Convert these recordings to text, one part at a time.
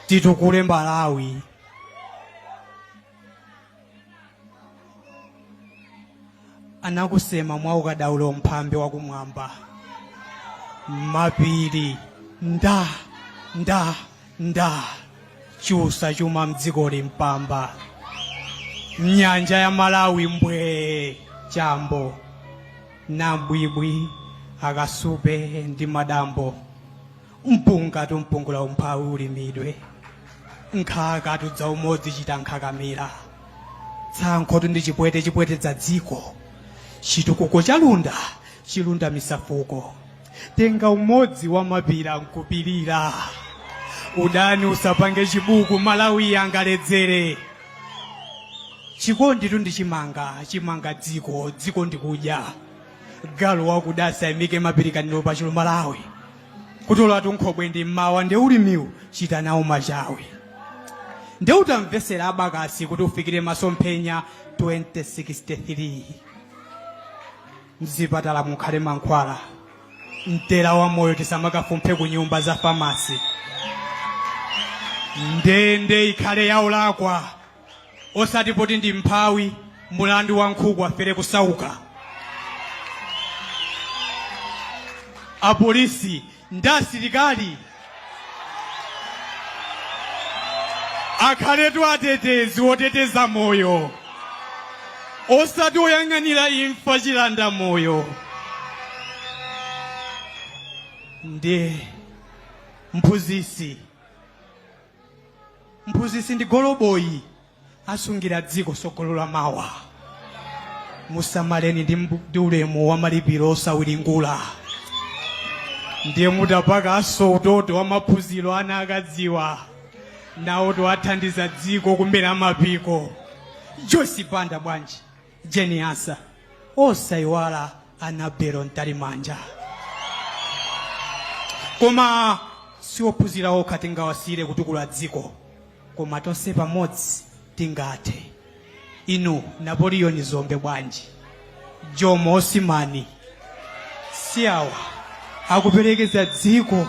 titukule malawi anakusema mwa ukadaulo mphambe wakumwamba mapiri nda nda nda chusa chuma mdzikoli mpamba mnyanja ya malawi mbwee chambo nambwibwi akasupe ndi madambo mpungatu mpungula umphawi ulimidwe nkhakatu dza umodzi chita nkhakamira tsankhotu ndi chipwete chipwetedza dziko chitukuko cha lunda chilundamitsa fuko tenga umodzi wa mapira nkupirira udani usapange chibuku malawi angaledzere chikonditu ndi chimanga chimanga dziko dziko ndikudya galu wakuda asaimike mapirikaniro pa chulu malawi kutolatu nkhobwe ndi mmawa nde ulimiwu chita nawo machawi nde utamvesera abakasi kuti ufikire masomphenya 2063 mzipatala mukhale mankhwala mtera wa moyo tisamakafumphe ku nyumba za famasi ndende ikhale ya olakwa osati poti ndi mphawi mulandu wa nkhuku afere kusauka apolisi ndi asilikali akhaletu atetezi oteteza moyo osati oyang'anira imfa chilanda moyo ndi mphunzitsi Mphunzitsi ndi goloboyi asungira dziko tsogolo la mawa. Musamaleni ndi ulemu wa malipiro osawiringula. Ndiye mutapakanso utoto wa maphunziro ana akadziwa nawotu athandiza dziko kumera mapiko. Joyce Banda bwanji? Jane Ansah osaiwala Anabel Mtalimanja. Koma siophunzira okha tingawasiyire kutukula dziko, koma tonse pamodzi tingathe. Inu Napoleon Dzombe bwanji, Jomo Osman, si awa akuperekeza dziko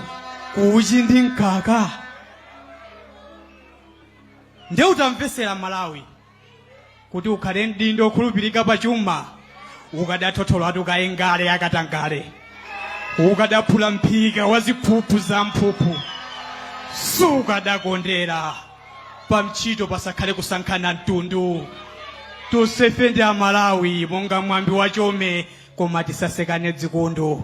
kuuchi ndi mkaka? Nde utamvesera Malawi kuti ukhale mdindo okhulupirika pa chuma ukadathotholatu kaye ngale ya katangale ukadaphula mphika wa ziphuphu za mphuphu sukadakondera pa ntchito pasakhale kusankhana mtundu tonsefe ndi amalawi monga mwambi wachome koma tisasekane dzikundu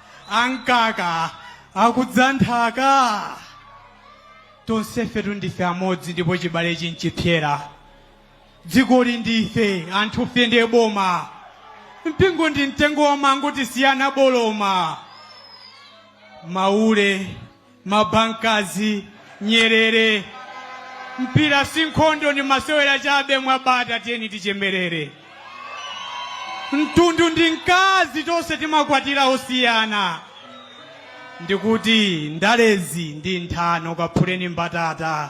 ankaka akudza nthaka tonsefetu ndife amodzi ndipo chibalechi nchipsera dzikoli ndife anthufe ndiye boma mpingo ndi mtengo wa mango tisiyana boloma maule mabankazi, nyerere. Mpira si nkhondo, ndi masewera chabe. Mwabata, tiyeni tichemerere. Mtundu ndi mkazi, tonse timakwatira osiyana. Ndikuti ndalezi ndi nthano, kaphuleni mbatata.